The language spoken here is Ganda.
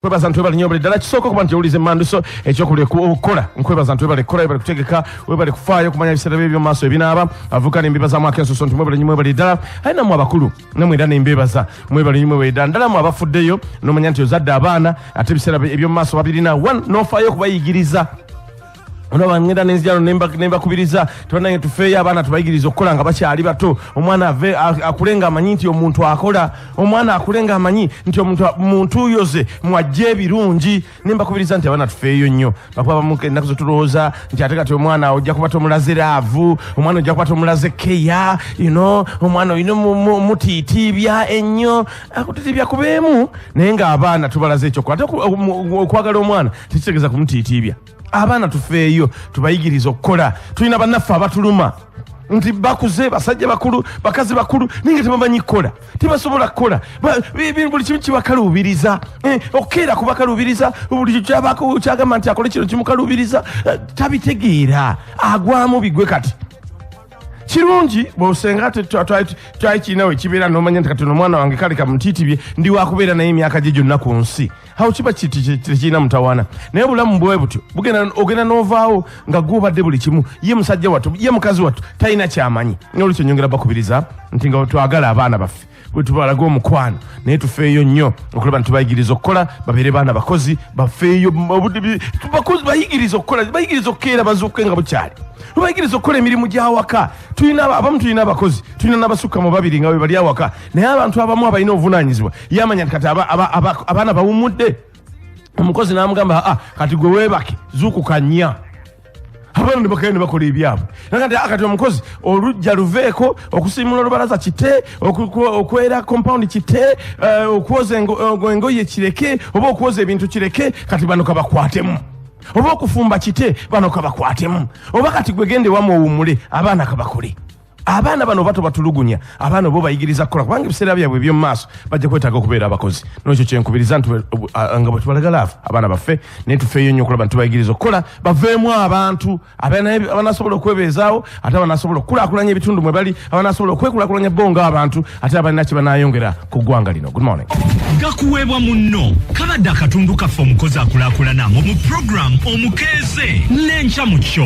kwebaza ntwebale nyo ddala kisooka okuba nti owuliza emmanduso ekyokubula okukola nkwebaza ntwebale kukola webale kutegeka webale kufaayo okumanya ebiseera bye byomumaaso ebinaaba avuka nembebazamu akensuso nti mwebale nyo mwebale ddala aye namwe abakulu namwe era nembebaza mwebale nyo mwebale ddala ndala mu abafuddeyo nomanya nti ozadde abaana ate ebiseera ebyomumaaso babirina one nofaayo okubayigiriza olaba ngenda nenzijano nembakubiriza tibanange tufeeyo abaana tubayigiriza okukola nga bakyali bato omwana ave akule nga amanyi nti omuntu akola omwana akule nga amanyi nti omuntu yoze mwajja ebirungi nembakubiriza nti abaana tufeeyo nnyo bakuba bamu ennaku zetulowooza nti ate kati omwana ojja kuba tomulaze raavu omwana ojja kuba tomulaze keya yno omwana olina mutiitiibya ennyo akutitiibya kubeemu naye nga abaana tubalaze ekyokukola ate okwagala omwana tekitegeeza kumutiitiibya abaana tufeeyo tubayigiriza okukola tulina bannaffe abatuluma nti bakuze basajja bakulu bakazi bakulu naye nga tebamanyi kukola tebasobola kukola buli kimu kibakaluubiriza eh, okukeera kubakaluubiriza buli kyagamba nti akole kino kimukaluubiriza eh, tabitegeera agwamu bigwe kati kirungi bwosenga twali kirinawe kibeera nomanya nti kati nomwana wange kale kamutiitibye ndi wakubeera naye emyaka gye gyonna ku nsi awo kiba tekirina mutawaana naye obulamu bwe butyo bugenda ogenda n'ovaawo nga gwobadde buli kimu ye musajja wattu ye mukazi wattu talina kyamanyi nolwekyo nyongera bakubiriza nti nga twagala abaana baffe wetubalaga omukwano naye tufeeyo nnyo okulaba ntibayigiriza okukola babeere baana bakozi bafeeyo bakozi bayigiriza okukola bayigiriza okukeera bazuuke nga bukyali tubayigiriza okukola emirimu gy'awaka tulina abamu tulina abakozi tulina n'abasukka mu babiri nga webali awaka naye abantu abamu abalina obuvunanyizibwa yamanya nti kati abaana bawumudde omukozi namugamba aa ah, kati gwe webake zukukanya abaana nebakayo nebakola ebyabwe nakati ah, kati omukozi olujja luveeko okusimula olubalaza kite okwera compound kite eh, okwoza eh, engoye kireke oba okwoza ebintu kireke kati bano kabakwatemu oba okufumba kite bano kabakwatemu oba kati gwegende wamu owumule abaana kabakole abaana bano oba tobatulugunya abaana oba obayigiriza kukola kubanga ebiseera byabwe ebyomu maaso bajja kwetaaga okubeera abakozi nolwekyo kyenkubiriza nti nga bwetubalagala afe abaana baffe naye tufeeyo nnyo okulaba nti tubayigiriza okukola baveemu abantu abanasobola okwebeezaawo ate abanasobola okukulakulanya ebitundu mwe bali abanasobola okwekulakulanya bo nga abantu ate abalina kye banayongera ku ggwanga lino good morning gakuweebwa munno kabadde akatundu kaffe omukozi akulakulana mu mu puroguramu omukeeze n'enkya mu kyo